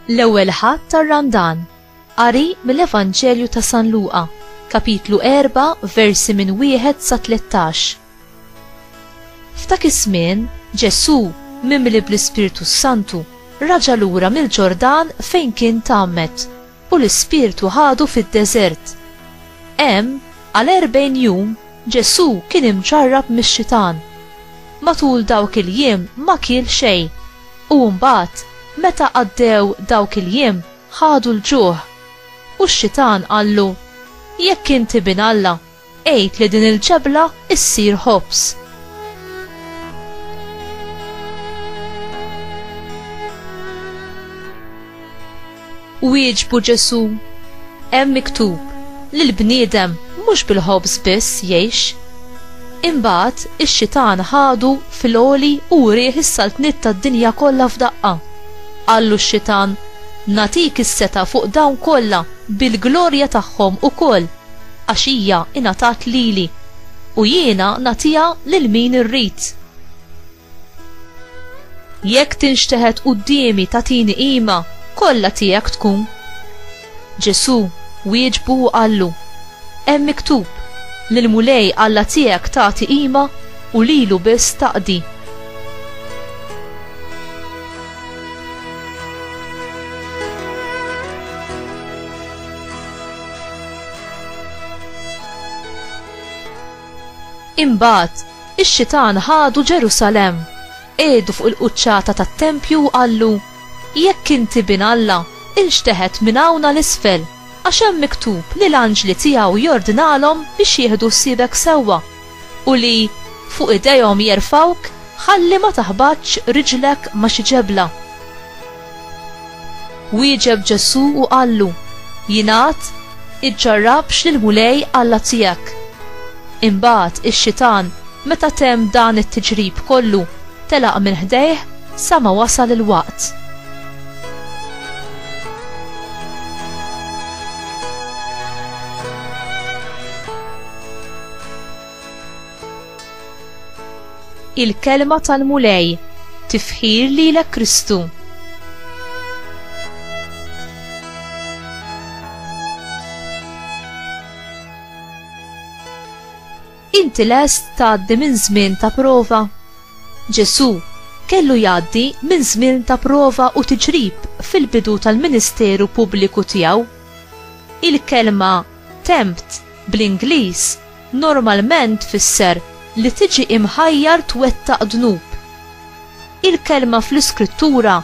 L-ewwel ħadd tar-Randan. Qari mill-Evanġelju ta' San Luqa, kapitlu 4, versi minn wieħed sa 13. F'dak iż-żmien, Ġesù, mimli bl-Ispirtu Santu, raġa lura mill-Ġordan fejn kien tgħammed, U l-Ispirtu ħadu fid-deżert. Hemm, għal erbgħin jum, Ġesù kien imġarrab mix-xitan. Matul dawk il-jiem ma kiel xejn, u mbagħad, meta għaddew dawk il-jiem, ħadu l-ġuħ. U x-xitan qallu, Jekk int Ibn Alla, Għid li din il-ġebla issir ħobż. Wieġbu Ġesu, hemm miktub li l-bniedem mhux bil-ħobż biss jgħix. Imbagħad ix-xitan ħadu fil-oli u rieħ is-saltniet tad-dinja kollha f'daqqa. Qallu x-xitan, natik is-seta fuq dawn kollha bil-glorja tagħhom ukoll Għax hija ingħatat lili, u jiena nagħtiha lil min irrid. Jekk tinxteħet quddiemi tagħtini qima, kollha tiegħek tkun. Ġesù wieġbu u qallu, Hemm miktub, Lill-Mulej Alla tiegħek tagħti qima u lilu biss taqdi. Imbagħad, ix-xitan ħadu Ġerusalemm, qiegħdu fuq il-quċċata tat-tempju u qallu, Jekk inti Bin Alla, inxteħet minn hawn għal isfel, għax hemm miktub li l-anġli tiegħu jordnalhom biex jieħdu ħsiebek sewwa, u li, fuq idejhom jerfgħuk, ħalli ma taħbatx riġlek ma' xi ġebla. Wieġeb Ġesù u qallu, Jingħad, Iġġarrabx lill-Mulej Alla tiegħek. Imbagħad ix-xitan, meta temm dan it-tiġrib kollu, telaq minn ħdejh sa ma wasal il-waqt. Il-kelma tal-Mulej, tifħir lilek Kristu. Inti lest tgħaddi minn żmien ta' prova? Ġesu, kellu jgħaddi minn żmien ta' prova u tiġrib fil-bidu tal-ministeru pubbliku tiegħu. Il-kelma tempt bl-Ingliż normalment tfisser li tiġi imħajjar twettaq dnub. Il-kelma fl-Iskrittura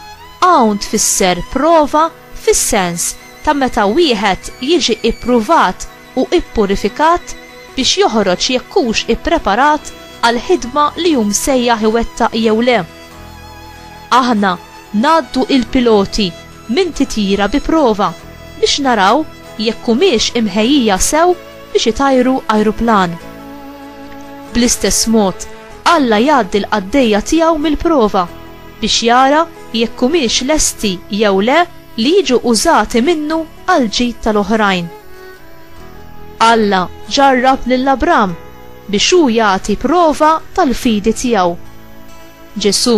hawn tfisser prova fis-sens ta' meta wieħed jiġi ppruvat u ppurifikat biex joħroġ jekk hux ippreparat għall-ħidma li hu msejjaħ iwettaq jew le. Aħna ngħaddu il-piloti minn titjira bi prova biex naraw jekk humiex imħejjija sew biex itajru ajruplan. Bl-istess mod, Alla jgħaddi l-qaddejja tiegħu mill-prova biex jara jekk humiex lesti jew le li jiġu użati minnu għall-ġid tal-oħrajn. Alla ġarrab lil Abram biex hu jagħti prova tal-fidi tiegħu. Ġesù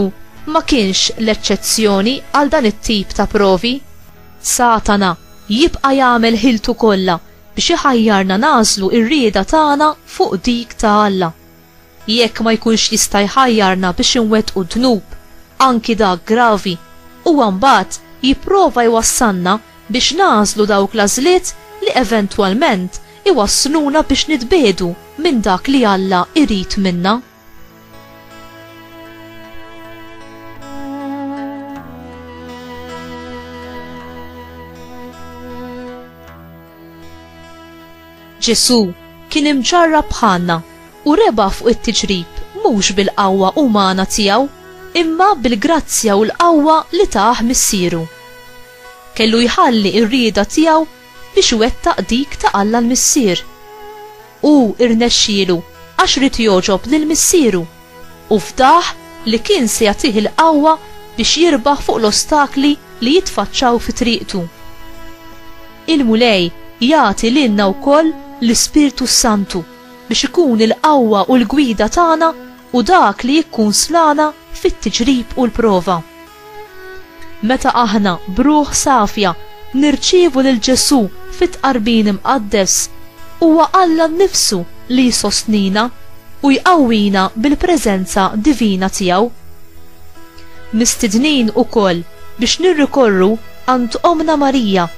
ma kienx l-eċċezzjoni għal dan it-tip ta' provi. Satana jibqa' jagħmel ħiltu kollha biex iħajjarna nagħżlu r-rieda tagħna fuq dik ta' Alla. Jekk ma jkunx jista' jħajjarna biex inwettqu dnub, anki dak gravi, huwa mbagħad jipprova jwassalna biex nagħżlu dawk l-għażliet li eventwalment iwassluna biex nitbiegħdu minn dak li Alla jrid minna. Ġesù kien imġarrab bħalna u rebaħ fuq it-tiġrib mhux bil-qawwa umana tiegħu, imma bil-grazzja u l-qawwa li tah Missieru. Kellu jħalli r-rieda tiegħu biex iwettaq dik ta' Alla l-Missier. Hu rnexxielu għax ried jogħġob lil Missieru u fdah li kien se jagħtih il-qawwa biex jirbaħ fuq l-ostakli li jitfaċċaw fi triqtu. Il-Mulej jagħti lilna wkoll l-Ispirtu s-Santu biex ikun il-qawwa u l-gwida tagħna u dak li jikkunslana fit-tiġrib u l-prova. Meta aħna, b'ruħ safja, nirċievu lil Ġesù fit-Tqarbin Imqaddes, huwa Alla nnifsu li jsostnina u jqawwina bil-preżenza divina tiegħu. Mistednin ukoll biex nirrikorru għand Ommna Marija,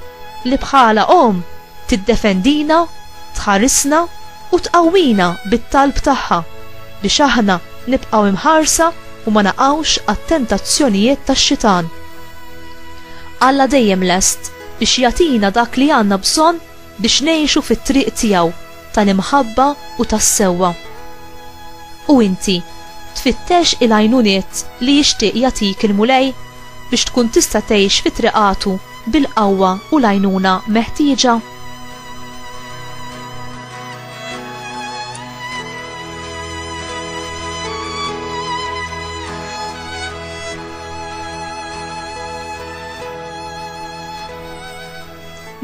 li bħala Omm Tiddefendina, tħarisna u tqawwina bit-talb tagħha biex aħna nibqgħu imħarsa u ma naqgħux għat-tentazzjonijiet tax-Xitan. Alla dejjem lest biex jagħtina dak li għandna bżonn biex ngħixu fit-triq tiegħu tal-imħabba u tas-sewwa. U inti, tfittex il-għajnuniet li jixtieq jagħtik il-Mulej biex tkun tista' tgħix fi triqatu bil-qawwa u l-għajnuna meħtieġa.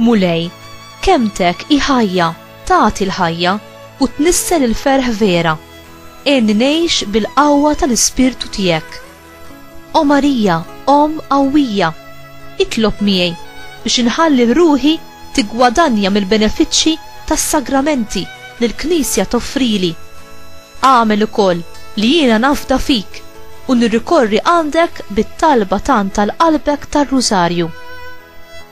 Mulej, kemtek hi ħajja, tagħti l-ħajja u tnissel il-ferħ vera. Għenni ngħix bil-qawwa tal-Ispirtu tiegħek O Marija, Omm qawwija, itlob miegħi biex inħalli ruħi tiggwadanja mill-benefiċċji tas-sagramenti li l-Knisja toffrili. Agħmel ukoll li jiena nafda fik u nirrikorri għandek bit-talba tant għal qalbek tar-Rużarju.